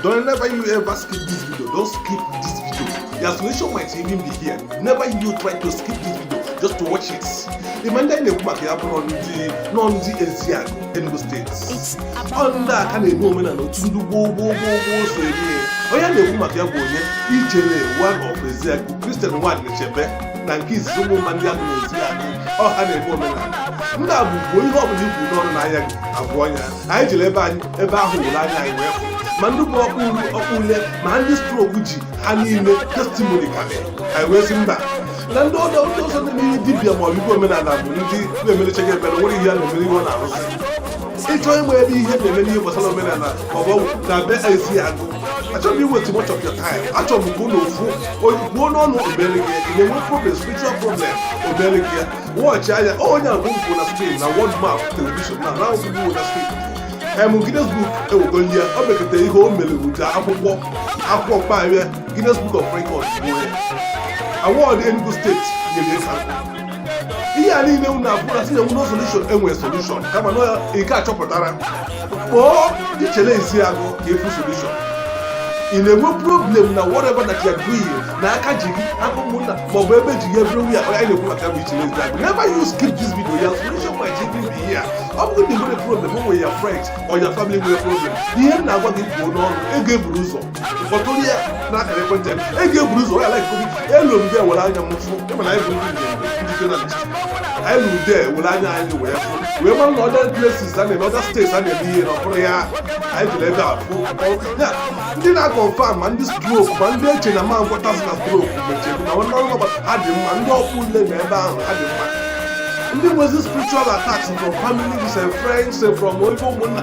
Don't never you ever skip this video. Don't skip this video. The solution might even be here. Never you try to skip this video just to watch it. Ịma ndị na-ekwu maka ya bụrụ ndị nọ ndị Ezeagụ Enugu steeti. Ọ ndị a ka na-eme omenala otu ndị gboo gboo gboo gboo si eme onye na-ekwu maka ya bụ onye ijele one of Ezeagụ Christian Nwadị Chebe na nke izizi Ụmụmba Ndịagụ Ezeagụ ọ ha na-eme omenala ndị a bụ gbuo ihe ọbụla ibu n'ọrụ n'anya gị abụọ ya anyị jere ebe ahụ were anya anyị wee fụ ma ndị bụ ọkpụ uri ọkpụ ule ma ndị strok ji ha na-enye testimoni karịa anyị wee sị mba na ndị ọdọ ndị ọzọ na ndị dibịa ma ọ bụ igwe omenala bụ ndị na-emerechaghị ebere nwere ihe a na-emere ihe ọ na-arụzi ị chọọ ịma ebe ihe na-eme n'ihe gbasara omenala na ọ bụ na be Ezeagụ achọghị m iwaste much of your time achọrọ m ka ụlọ ofu ozugbo n'ọnụ obere gị ị na-enwe problem spiritual problem obere gị ya wọchị anya ọ onye a bụ mkpụ na screen na world map telivishọn na na ozugbo na screen em Guinness Book ewego ihe o mekata ihe o mere buta akwụkwọ baa Guinness Book of Records bụ onye award Enugu steeti nyere ya ka ihe a niile unu abụla sị na enweghị solushon enwere solushon kama na nke a chọpụtara kpọọ Ijele Ezeagụ ka ị fụ solushon ị na-enwe problem na whatever that you are doing na aka ji gị aka ụmụnna maọbụ ebe ji gị everywhere anyị na-ekwu maka bụ Ijele Ezeagụ never you skip this video your solution might even be here ọ bụrụ na ị nwere problem o nwere your friends or your family nwere problem ihe m na-agwa gị kwuo n'ọrụ e ga-eburu ụzọ ụfọdụ onye ya na-akara ekwentị ya e ga-eburu ụzọ ya like covid elu mbe were anya m fụ ịma na anyị bụ ndị ndị journalist anyị ruru there were anya anyị wee fụ wee mara na other places a na-eme other states a na-eme ihe na ọ bụrụ ya anyị jere ebe afụ ọ- ya, ndị na-akọnfam ma ndị strok ma ndị e che na a ma ngwọtazi na strok mechie na nwanne ọrụ ọgbata ha dị mma ndị ọkpụ ule na ebe ahụ ha dị mma ndị nwezi spiritual attacks from families and friends eh, from oibo ụmụnna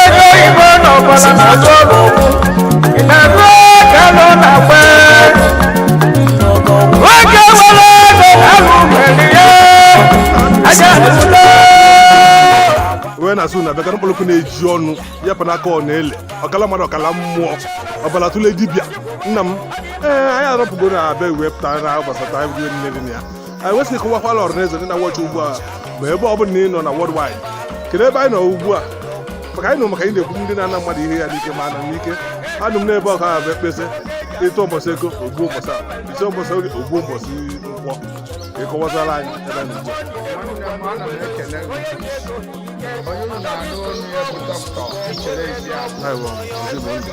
ego oyibo na ọbara na-atụ ọrụ ụkwụ na-eme ka nọ na gbe nwoke nwere ego ahụ nwere ya aja ụlọ wee na-asụ na abịakara mkpọrọkụ na-eji ọnụ ya pa n'aka ọ na-ele ọkala mmadụ ọkala mmụọ ọbara tụle dibịa nna m ee anyị arọpụgo na abịa wee pụta na gbasata ihe niile dị na ya anyị wee sị kọwaara ọhanaeze ndị na-awọchị ugbu a ma ebe ọ bụla na ị nọ na worldwide kedu ebe anyị nọ ugbu a maka anyị nọ maka anyị na-ekwu ndị na-ana mmadụ ihe ya n'ike ma ana m n'ike anụ m n'ebe ọka ahụ ekpesị ịtụ ụbọchị ego ogbu ụbọchị a isi ụbọchị oge ogbu ụbọchị nkwọ ka ị kọwaziere anyị ebe anyị nọ ugbu a Aiwa, ezi bụ ndụ.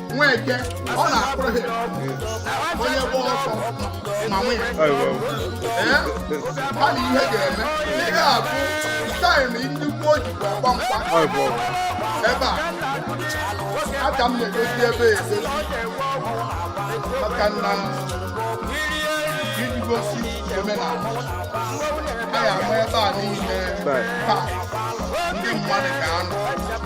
nwoke ọ na-akpụrụ ha onye gba ọsọ ma nwe ya Ayi wa. ee ha na ihe ga-eme ị ga-abụ time ndị gboo jikwa agba mgba Ayi wa. ebe a aka m na-egosi ebe a egosi maka na iji gosi omenala anyị ama ebe a niile Right. taa ndị mmadụ ga-anọ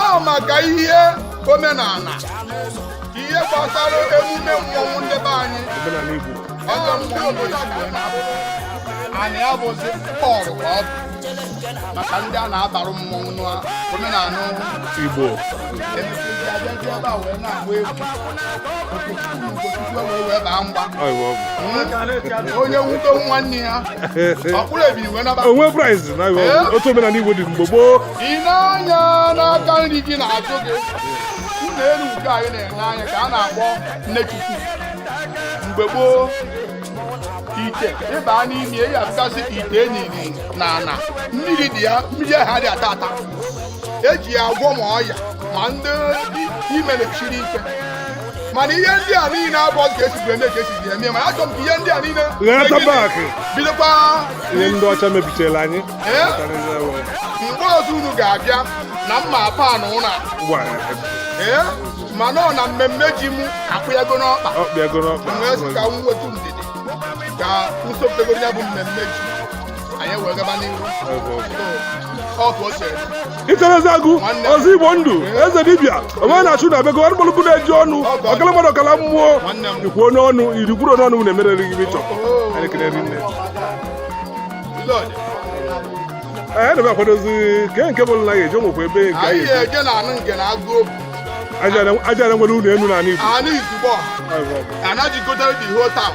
ọ maka ihe omenala ihe gbasara emume mmọnwụ ndị be anyị ọzọ ndị obodo a ga na-abụ anyị abụzi pọlụ ka ọ bụ maka ndị a na-abarụ mmọnwụ n'omenala Igbo onye nwudo nwanne ya ọ kpụrụ ebini wee naba o nwe prize na otu omenala igbo dị mgbe gboo ị nee anya n'aka nri gị n'azụ gị ụlọ elu nke anyị na-ene anya ka a na-akpọ nne chukwu mgbe gboo ite ịba n'ime ya bụgasị ite e niri n'ana mmiri dị ya mmiri ahụ adị ata ata eji ya agwọ ma ọya ma ndị ime na-esiri ike mana ihe ndị a niile abụzị ka esibiri eme ka esibiri eme mana achọrọ m ka ihe ndị a niile bidokwa ihe ndị ọcha mebichara anyị mgbe ọzọ unu ga-abịa na mma pan ụlọ ma nọ na mmemme ji m akpụyago n'ọkpa wee sị ka m wetu ndidi ka usopụtagoro ya bụ mmemme ji anyị wee gaba n'ihu ọkụ ose ichie eziagụ ọzọ igbo ndụ eze dibịa onwe na-achụ na bego arụgbọlụgụ na-eji ọnụ ọkala mmadụ ọkala mmụọ ikwuo n'ọnụ ihe i kwuru n'ọnụ na-emerere gị bịchọ anyị ekele rinne anyị na-ebe akwadozi nke nke bụ na a ga-eje o nwekwa ebe nke anyị anyị eje na anụ nke na agụ aja na nwere ụlọ elu n'ala igbo anụ izugbo anaghị gotere the whole town